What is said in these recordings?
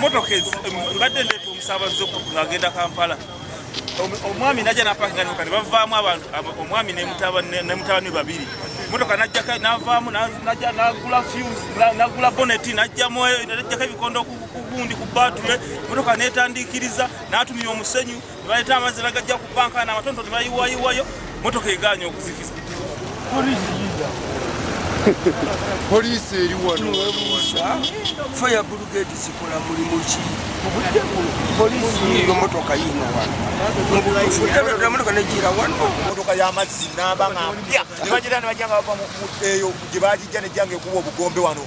motoka mbadde ndeeta omusaabazi ng'agenda kampala omwami najja napakinga nemotoka ne bavaamu abantu omwami nemutabani babiri motoka najjaka navaamu najja nagula fuse nagula boneti najjamu najjako ebikondo kugundi ku batule motoka netandikiriza natumira omusenyu ne baleeta amazzi nagajja ku banka n'amatonto ne bayiwayiwayo motoka egaanya okuzikiza poliisi eri wano faya bulugeti zikola mulimu ki motoka yino wanomotoka negira wano motoka yamazzi naba nga mpya nebajira nebajja nga bava eyo gye bagijja nejja nga ekuba obugombe wano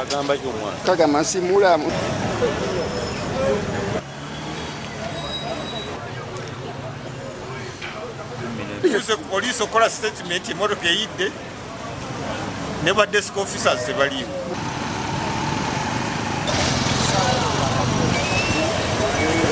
agamba ki omwana kagamba nsi mulamu tuuse ku poliisi okukola sitatimenti emotoka eyidde ne ba desk officers tebaliiwo